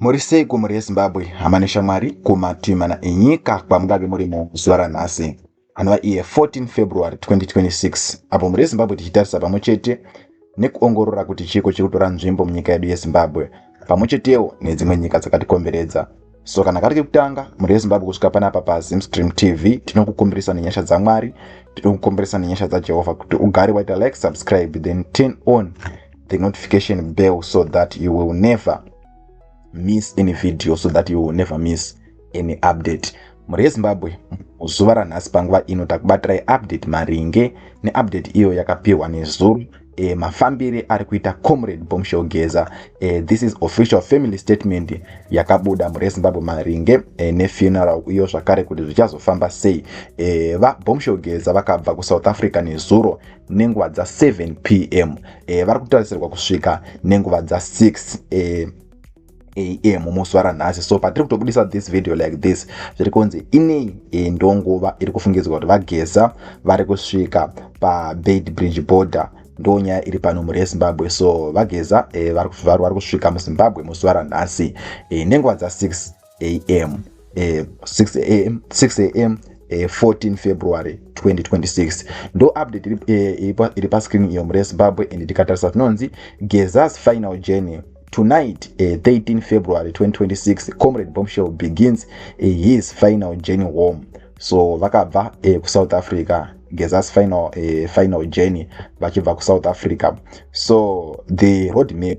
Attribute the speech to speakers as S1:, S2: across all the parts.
S1: Muri sei kumhuri yeZimbabwe, hama neshamwari kumativi mana enyika kwamungave muri muzuva ranhasi anova iye 14 February 2026 apo mhuri yeZimbabwe tichitarisa pamwe chete nekuongorora kuti chiiko chiri kutora nzvimbo munyika yedu yeZimbabwe pamwe chetewo nedzimwe nyika dzakatikomberedza so kana kari kekutanga mhuri yezimbabwe kusvika panapa pazimstream tv tinokukumbirisa nenyasha dzamwari tinokukumbirisa nenyasha dzajehovha kuti ugare waita like subscribe then turn on the notification bell so that you will never miss any video so that you will never miss any update mhuri yezimbabwe muzuva ranhasi panguva ino takubatirai update maringe neupdate iyo yakapiwa nezuru e, mafambire ari kuita comrade bomshel geza e, this is official family statement yakabuda mhuri yezimbabwe maringe e, nefuneral iyo zvakare kuti zvichazofamba sei e, vabomshel geza vakabva kusouth africa nezuro nenguva dza7 pm e, vari kutarisirwa kusvika nenguva dza6 e, am musi waranhasi so patiri kutobudisa this video like this zviri kunzi inei e, ndonguva iri kufungidzwa kuti vageza vari kusvika pabed bridge border ndo nyaya iri pano mhuri yezimbabwe so vageza e, vari kusvika muzimbabwe musi waranhasi e, nenguva dza6 am eh, 6 am 6 am eh, 14 february 2026 ndo update iri, eh, iri, pa, iri pascreen iyo murezimbabwe and tikatarisa tinonzi gezas final journey tonight uh, eh, 13 february 2026 comrade bombshell begins uh, his final journey home so vakabva uh, eh, kusouth africa gezas final, uh, final journey vachibva kusouth africa so the road map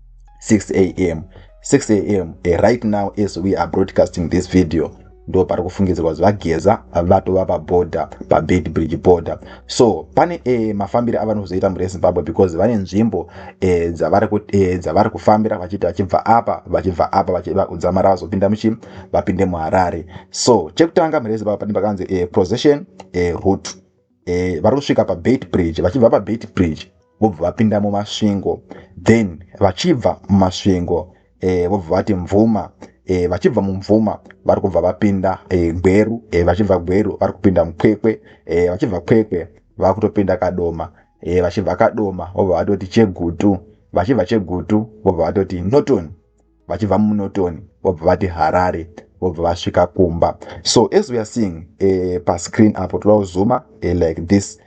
S1: 6 am 6 am eh, right now as we are broadcasting this video ndo pari kufungidzirwa kuti vageza vatova paborder pabed bridge border so pane e, mafambiro avanozoita murezimbabwe because vane nzvimbo e, dzavari e, dzavari kufambira vachiti vachibva apa vachibva apa vachidzamara vazopinda muchi vapinde muharare so chekutanga murezimbabwe pane pakanzi e, procession e, route eh, vari kusvika pabeit bridge vachibva pabeit bridge vobva vapinda mumasvingo then vachibva mumasvingo eh, vobva vati mvuma eh, vachibva mumvuma vari kubva vapinda eh, gweru eh, vachibva gweru vari kupinda mukwekwe eh, vachibva kwekwe vakutopinda kadoma eh, vachibva kadoma vobva vatoti chegutu vachibva chegutu vobva vatoti norton vachibva munoton vobva vati harare vobva vasvika kumba so as weare seeing uh, pascreen apo toda kuzuma uh, like this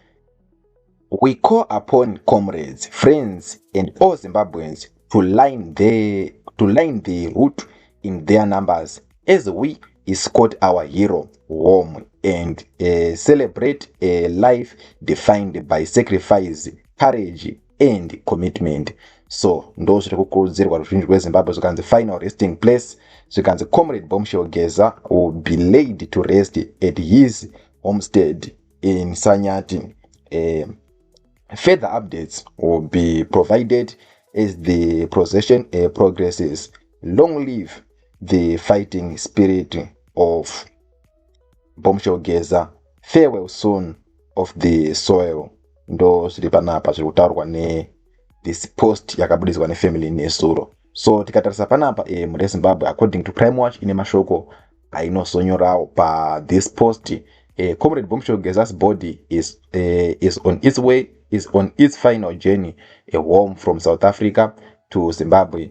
S1: we call upon comrades friends and all zimbabweans to line the, to line the root in their numbers as we escort our hero home and uh, celebrate a life defined by sacrifice courage and commitment so ndo zviri kukurudzirwa ruzhinji rwezimbabwe zvikanzi final resting place zvikanzi comrade bombshell geza will be laid to rest at his homestead in sanyati eh, further updates will be provided as the procession uh, progresses long live the fighting spirit of mbomushogeza farewell soon of the soil ndo zviri panapa zviri kutaurwa ne this post yakabudiswa nefamily nesuro so tikatarisa panapa e, mhuri yezimbabwe according to crime watch ine mashoko ainosonyorawo pathis post e, comrade bomshogezas body is, e, is on its way is on its final journey a home from south africa to zimbabwe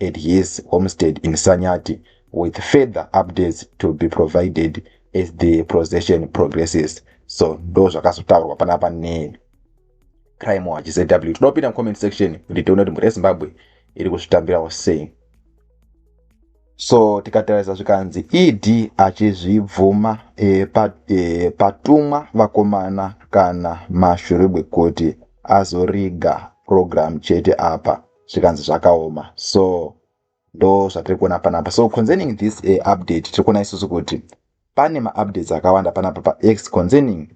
S1: at his homestead in Sanyati with further updates to be provided as the procession progresses so ndo zvakazotaurwa panapa ne crime watch zw toda kupinda mucomment section kuti tione kuti mhuri yezimbabwe iri kuzvitambirawo sei so tikatarisa zvikanzi ed achizvibvuma e, pa, e, patumwa vakomana kana mashuribwe kuti azoriga program chete apa zvikanzi zvakaoma so ndo zvatiri kuona panapa so concerning this uh, update tiri kuona isusu kuti pane maupdates akawanda panapa pax concerning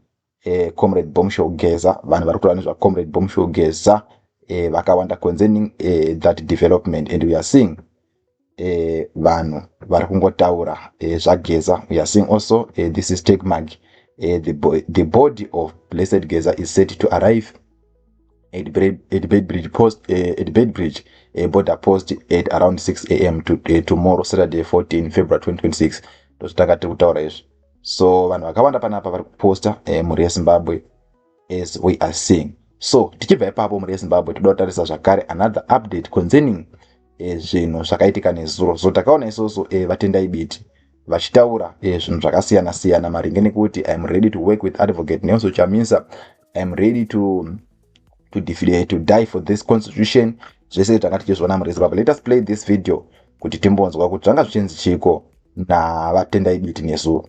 S1: uh, comrade bomshow geza vanhu vari kutaura nezvacomrade bomshow geza uh, vakawanda concerning uh, that development and we are seeing eh, vanhu vari kungotaura eh, zvageza we are seeing also eh, this is take mag eh, the, bo the body of blessed geza is set to arrive at, at bedbridge post eh, at bedbridge eh, border post at around 6 am to, eh, tomorrow saturday 14 february 2026 ndozvitanga tiri kutaura izvi so vanhu vakawanda panapa vari kuposta eh, mhuri yezimbabwe as we are seeing so tichibva ipapo mhuri yezimbabwe toda kutarisa zvakare another update concerning eh, zvinhu zvakaitika nezuro so takaona isoso eh, vatendai biti vachitaura eh, zvinhu zvakasiyana siyana maringe nekuti iam ready to work with advocate nelso chamisa iam ready to, to, eh, to die for this constitution zvese tanga tichizviona mhuri yezimbabwe let us play this video kuti timbonzwa kuti zvanga zvichinzi chiiko navatendai biti nezuro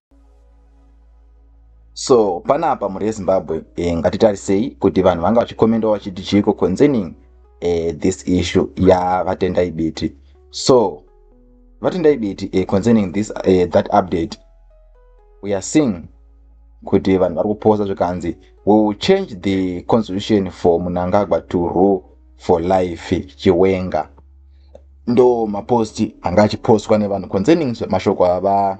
S1: so panapa mhuri yezimbabwe e, ngatitarisei kuti vanhu vanga vachikomendawo vachiti chiiko concerning e, this issue yavatendai biti so vatendai biti e, concerning this e, that update we are seeing kuti vanhu vari kuposa zvikanzi we will change the constitution for munangagwa to rule for life chiwenga ndo maposti anga achipostwa nevanhu concerning mashoko ava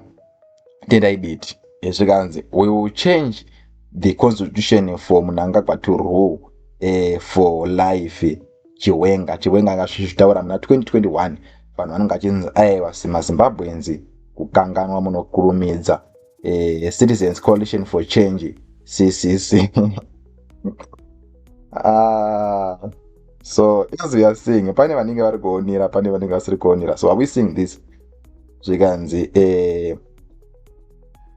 S1: tendai biti zvikanzi we will change the constitution for munangagwa to rule uh, for life chiwenga chiwenga anga zvichitaura muna 2021 vanhu vanenge vachinzi aiwa mazimbabweans kukanganwa munokurumidza uh, citizens coalition for change ccc ah, so as we are seeing pane vanenge vari kuonera pane vanenge vasiri kuonera so are we seeing this zvikanzi eh,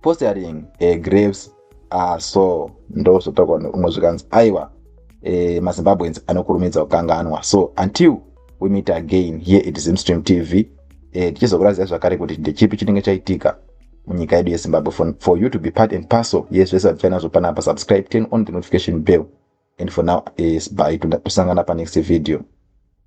S1: postering eh, graves are so ndozotaurwa neumwe zvikanzi aiwa eh, mazimbabweans anokurumidza kukanganwa so until we meet again here it zimstream tv eh, tichizokurazia zvakare kuti ndechipi chinenge chaitika munyika yedu yezimbabwe for, for you to be part and parcel yes zvese zvatifanazvo panapa subscribe turn on the notification bell and for now is by tosangana panext video